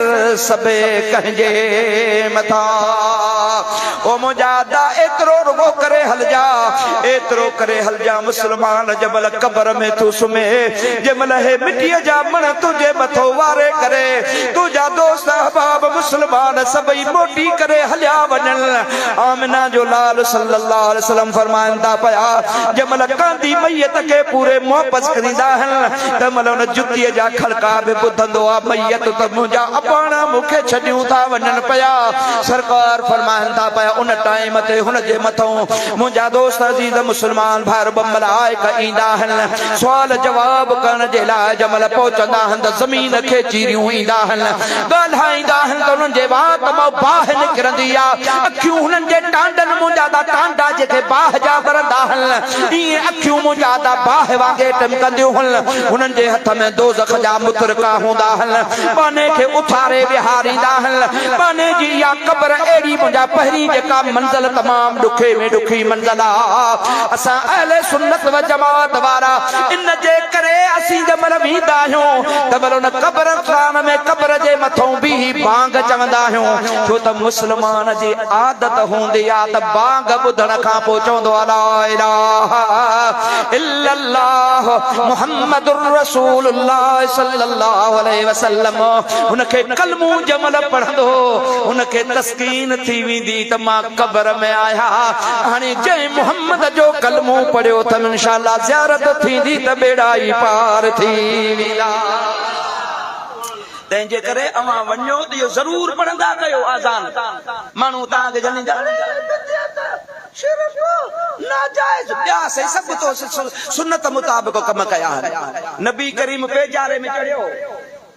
سڀيئي ڪنهن جي مٿان او منهنجا ادا ايترو رڳو ڪري هلجا ايترو ڪري هلجا مسلمان جنهن مهل قبر ۾ ٿو سمهي جنهن مهل هي مٽيء جا مڻ تنهنجي مٿو واري ڪري تنهنجا دوست احباب مسلمان سڀئي موٽي ڪري هليا وڃن آمنه جو لال صلي الله عليه وسلم فرمائن ٿا پيا جنهن مهل ڪانڌي ميت کي پوري محبت ڪريندا آهن تنهن مهل ان جتيء جا کڙڪا به ٻڌندو آ، ميت ته منهنجا اباڻا مون کي ڇڏيون ٿا وڃن پيا. سرڪار فرمائن ٿا پيا، ان ٽائيم تي هن جي مٿئون منهنجا دوست عزيز مسلمان ڀائر به ملائڪ ايندا آهن، سوال جواب ڪرڻ جي لاء جنهن مهل پهچندا آهن ته زمين کي چيريون ايندا آهن، ڳالهائيندا آهن ته انهن جي وات مان باهه نڪرندي آ، اکيون هنن جي ٽانڊن منهنجا ته ٽانڊا جيڪي باهه جا ٻرندا آهن. ائين اکيون منهنجا ادا باهه وانگي ٽمڪنديون هن. هنن جي هٿ ۾ دوزخ جا مترڪا هوندا هن. ٻانهي کي اٿاري ويهاريندا هن. ٻانهي جي اها قبر اهڙي منهنجا پهرين جيڪا منزل تمام ڏکي ۾ ڏکي منزل آ. اسان اهل سنت و جماعت وارا ان جي ڪري اسين جي مهل ويندا آهيون ته مهل ان قبرستان ۾ قبر جي مٿئون بيهي بانگ چوندا آهيون. ڇو ته مسلمان جي عادت هوندي آ ته بانگ ٻڌڻ کان پوء چوندو آ لا اله الا الله محمد رسول الله صلي الله عليه وسلم هن کي ڪلمو جمل پڙهندو هن کي تسڪين ٿي ويندي ته مان قبر ۾ آهيا هاڻي جنهن محمد جو ڪلمو پڙهيو ته انشاء الله زيارت ٿيندي ته ٻيڙا ئي پار ٿي ويندا تنهن جي ڪري اوهان وڃو ته اهو ضرور پڙهندا ڪيو آذان ماڻهو توهان کي جهليندا اهي بدعت، شرڪ، ناجائز ٻيا سهي سڀ تو سنت مطابق ڪم ڪيا آهن نبي ڪريم پيڄاري ۾ چڙهيو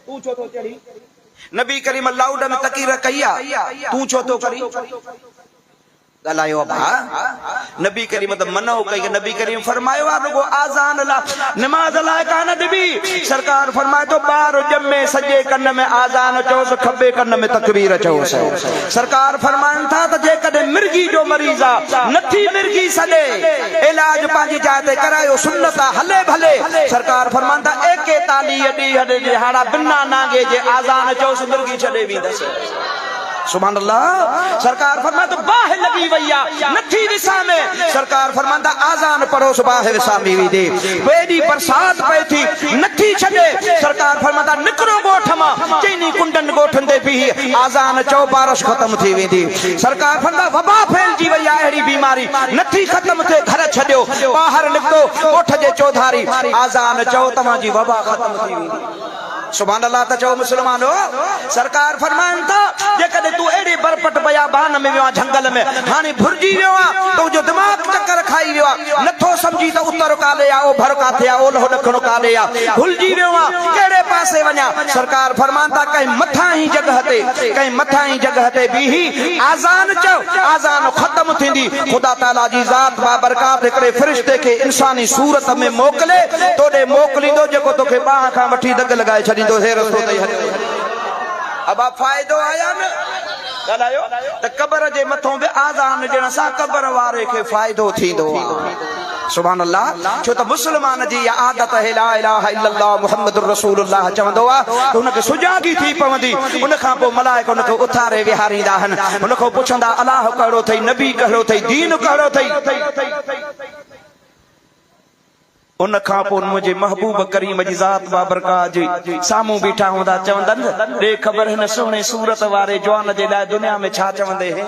تون ڇو ٿو چڙهين نبي ڪريم لاؤڊ ۾ تقير ڪئي آهي تون ڇو ٿو ڪرين. ڳالهايو ڀاء نبي ڪريم ته منع ڪئي نبي ڪريم فرمايو آ رڳو آذان لا نماز لا ڪانه ڏبي سرڪار فرمائي ٿو ٻار ڄمي سڄي ڪن ۾ آذان چوس کٻي ڪن ۾ تڪبير چوس سرڪار فرمائن ٿا ته جيڪڏهن مرغي جو مريض آ نٿي مرغي سڏي علاج پنهنجي جاء تي ڪرايو سنت آ هلي ڀلي سرڪار فرمائن ٿا ايڪيتاليهه ڏينهن ڏهاڙا بنا نانگي جي آذان چوس مرغي ڇڏي ويندس سبحان الله سرڪار فرمائي ته باهه لڳي وئي آ نٿي وسامي سرڪار فرمان ٿا آذان پڙهو سو باهه وسامي ويندي پوء ايڏي برسات پئي ٿي نٿي ڇڏي سرڪار فرمان ٿا نڪرو ڳوٺ مان چئني ڪنڊن ڳوٺن تي بيهي آذان چئو بارش ختم ٿي ويندي سرڪار فرمان ٿا وبا ڦهلجي وئي آ اهڙي بيماري نٿي ختم ٿئي گهر ڇڏيو ٻاهر نڪتو ڳوٺ جي چوڌاري آذان چئو توهان جي وبا ختم ٿي ويندي. سبحان الله ته چئو مسلمانو! سرڪار فرمائن ٿا، جيڪڏهن تون اهڙي برپٽ بيابان ۾ ويو آهين، جهنگل ۾، هاڻي ڀرجي ويو آهين، تنهنجو دماغ چڪر کائي ويو آهي، نٿو سمجهين ته اتر ڪاڏي آهي، اوڀر ڪاٿي آهي، اولهو ڏکڻ ڪاڏي آهي، ڀلجي ويو آهين، ڪهڙي پاسي وڃان؟ سرڪار فرمائن ٿا، ڪنهن مٿانهين جڳهه تي، ڪنهن مٿانهين جڳهه تي بيهي آذان چئو، آذان ختم ٿيندي، خدا تعاليٰ جي ذات بابرڪات هڪڙي فرشتي کي انساني صورت ۾ موڪلي تو ڏي موڪليندو جيڪو توکي ٻانهن کان وٺي دڳ لڳائي ڇڏيندو هي رستو تئي هليو وڃ ابا فائدو آيا نه ڳالهايو ته قبر جي مٿون به آذان ڏيڻ سان قبر واري کي فائدو ٿيندو آ. سبحان الله ڇو ته مسلمان جي اها عادت اهي لا اله الا الله محمد الرسول الله چوندو آ ته هن کي سجاڳي ٿي پوندي ان کان پوء ملائڪ هن کي اٿاري ويهاريندا آهن هن کان پڇندا الاهه ڪهڙو ٿئي نبي ڪهڙو ٿئي دين ڪهڙو ٿئي ان کان پوء منهنجي محبوب ڪريم جي ذات بابرڪا جي سامهون بيٺا هوندا چوندن ڏي خبر هن سهڻي صورت واري جوان جي لاء دنيا ۾ ڇا چوندي هي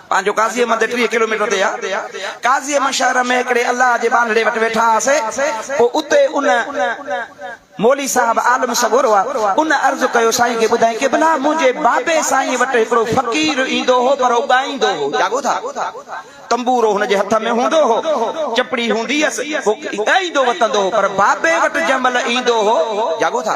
پنهنجو قاضيء مندر ٽيهه ڪلوميٽر تي آ. قاضيء مشاعره ۾ هڪڙي الله جي ٻانهڙي وٽ ويٺا هئاسين. پوء اتي ان مولوي صاحب عالم سڳورو آ. ان عرض ڪيو سائين کي ٻڌائين ڪي ڀلا منهنجي بابي سائين وٽ هڪڙو فقير ايندو هو پر هو ڳائيندو هو. جاڳو ٿا. تنبورو هن جي هٿ ۾ هوندو هو. چپڙي هوندي هيس. هو ڳائيندو وتندو هو پر بابي وٽ جنهن مهل ايندو هو. جاڳو ٿا.